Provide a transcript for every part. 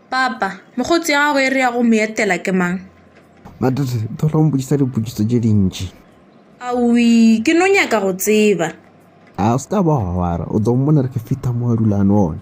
papa mokgotsi ya gago e re ya go mo etela ke mang matete thola o mpotšisa dipotšiso tše dintši awi ke no nyaka go tseba a o se ka ba wa wara o tlo mmona re ke fitha mo a dulano one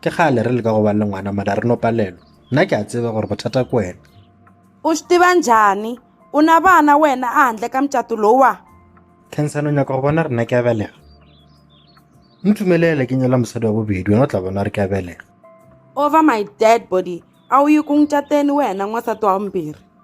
Ke kgale re leka go ba le ngwana mara re no palelwa. Nna ke a tseba gore bothata ke wena. U swi tiva njhani? U na vana wena ehandle ka mucato lowa? Khensani u nyaka go bona gore nna ke a belega? Mpfumelele ke nyala mosadi wa bobedi wena o tla bona gore ke a belega. Over my dead body! A u yi ku n'wi cateni wena n'wansati wa vumbirhi?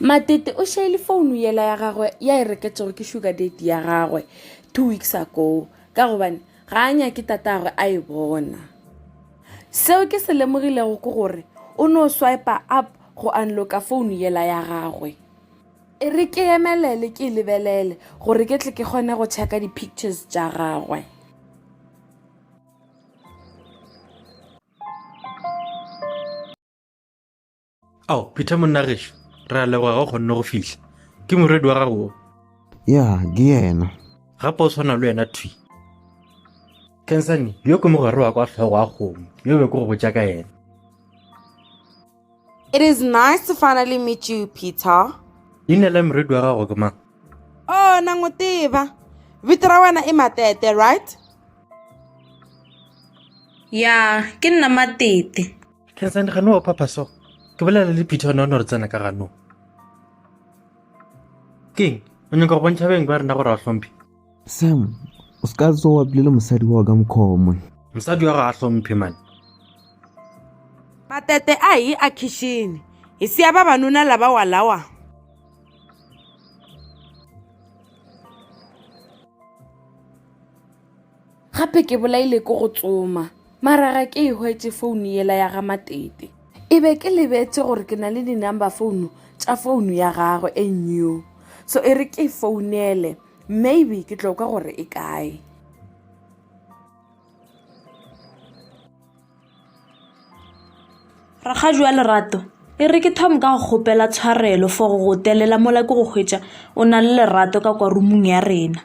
Matete o šaile founu yela ya gagwe ya e reketšego ke sugar date ya gagwe two weeks ago ka gobane ga a nyake tatagwe a e bona seo ke se lemogilego ke gore o no swipe up go unlocka founu yela ya gagwe e re ke emelele ke e lebelele gore ke tle ke kgone go checka di-pictures tša gagwe ao peter monna gešo re a leboga ga o kgonne go fihla ke moredi wa gago ya ke yena gape o tshwana le wena thwi kensane yo ke mogare wa kwa tlhogo a kgomo yo be ke go botsa ka yena It is nice to finally meet you, Peter. leina la moredi wa gago ke mang Oh, na n'wi tiva. Vito ra wena i Matete, right? ya ke nna matete Tencent gano wa phapha so ke bolela le peter one one re tsena ka gano keng o nyaka go bontšha beng ba rena gore a hlomphe sam o se ka tso wa bile le mosadi wa ka mokhomo mosadi wa ga a hlomphe mane patete a hi a khixini hi siya vavanuna lava walawa gape ke bolaile ke go tsoma mara ga ke e hwetše founu yela ya ga matete e be ke lebetše gore ke na le di-number founu tša founu ya gagwe e new so e re ke e founele maybe ke tloka gore e kae rakgaju wa lerato e re ke thome ka go kgopela tshwarelo for go telela mola ke go hwetša o na le lerato ka kwa rumong ya rena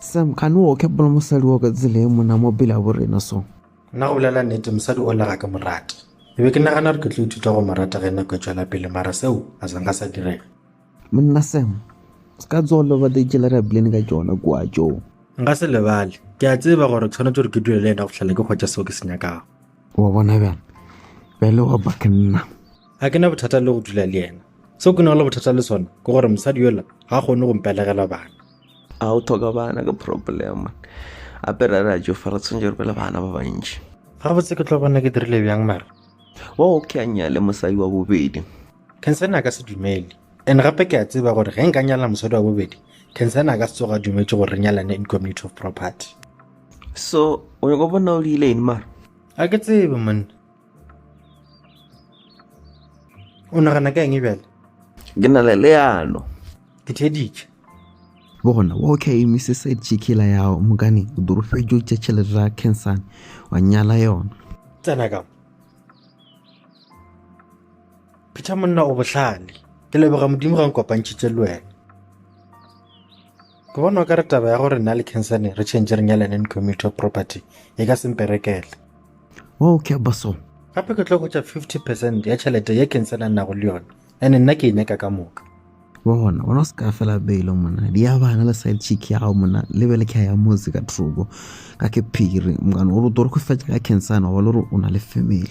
Sam, gane wo ke bola mosadi wo ka tsela e mona mo pele a bo rena so? Nna go bolela nete, mosadi o lega ke morate. Ke be ke nagana gore ke tlo ithuta go morata ge nako e tšwela pele mara seo a se nka sa direga. Monna Sam, se ka tsogo loba te tšela re abilene ka tšona kua tšo. Nka se lebale. Ke a tseba gore tshwanetse gore ke dule le yena go tlhela ke kgwetša seo ke se nyakago. Wa bona bjang? Bjale wa ba ke nna. A ke na bothata le go dula le yena. Seo ke na le bothata le sona ke gore mosadi yola ga kgone go mpelegela bana. A o thoka bana ke problem ape ra ra jo fa re tshwanetse re be le bana ba bantši ga botse ke tlo bona ke dirile bjang mara wa o ke a nyale mosadi wa bobedi kensena a ka se dumele and gape ke a tseba gore ge nka nyala mosadi wa bobedi kensena a ka se tsoga a dumetše gore re nyalane in community of property so o nyako bona o diile eng mara a ke tsebe monna o nagana ka eng e bjale ke na le leano ke theeditše bona okay mrs jikila yago mokane o dorofetšo tša tšhelete ra cansane wa nyala yona tsena ka phetha monna o bohlale ke leboga modimo ga nkopantšhitše le wena Ke bona o ka re taba ya gore nna le Kensane re tšhentše re nyalane in community of property e ka semperekele. Wa o kya baso? Gape ke tlo go tša 50 percent ya tšhelete ye Kensane a nnago le yona, ene nna ke e nyaka ka moka. Wa bona, bona o se ka fela beilo mona. Di ya bana le side chick ya gago mona, le be le kya ya motse ka troko. Ka ke phiri, mokano o re toro go fetša ka Kensane, wa ba le gore o na le family.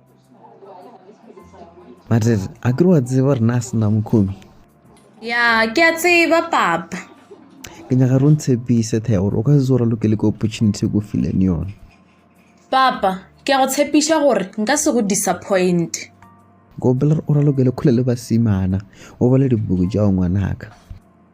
mare a ke wa tseba rena a sena mokhomi ya ke a tseba papa ke nyaka re ntshepise thea gore o ka se tsora lokele ke opportunity ko fileng yone papa ke a go tshepiša gore nka se go disappoint kopela o ralokele kgole le basimana o bale dibuku jago ngwanaka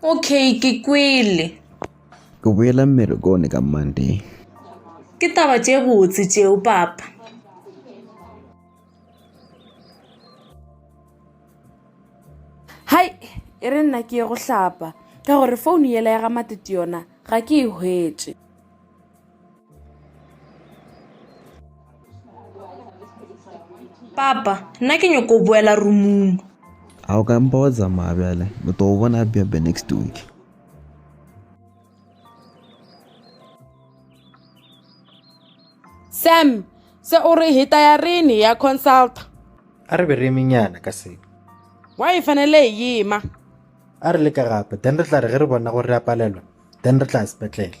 Okay, ke kwele. Ke boela mmerekone ka Monday. Ke taba tše botse tšeo, Papa. Hai, e re nna ke ye go hlapa, ka gore founu yela ya ga Matete yona ga ke e hwetše. papa nna ke nyoko boela rumung a o ka mpa wa tsamaya bjale o to o bona bebe next week sam se o re hita ya rene ya consult a re be re emenyana ka se wa e fanele e yema a re le ka gape then re tla re ge re bona gore re a palelwa then re tla sepetlele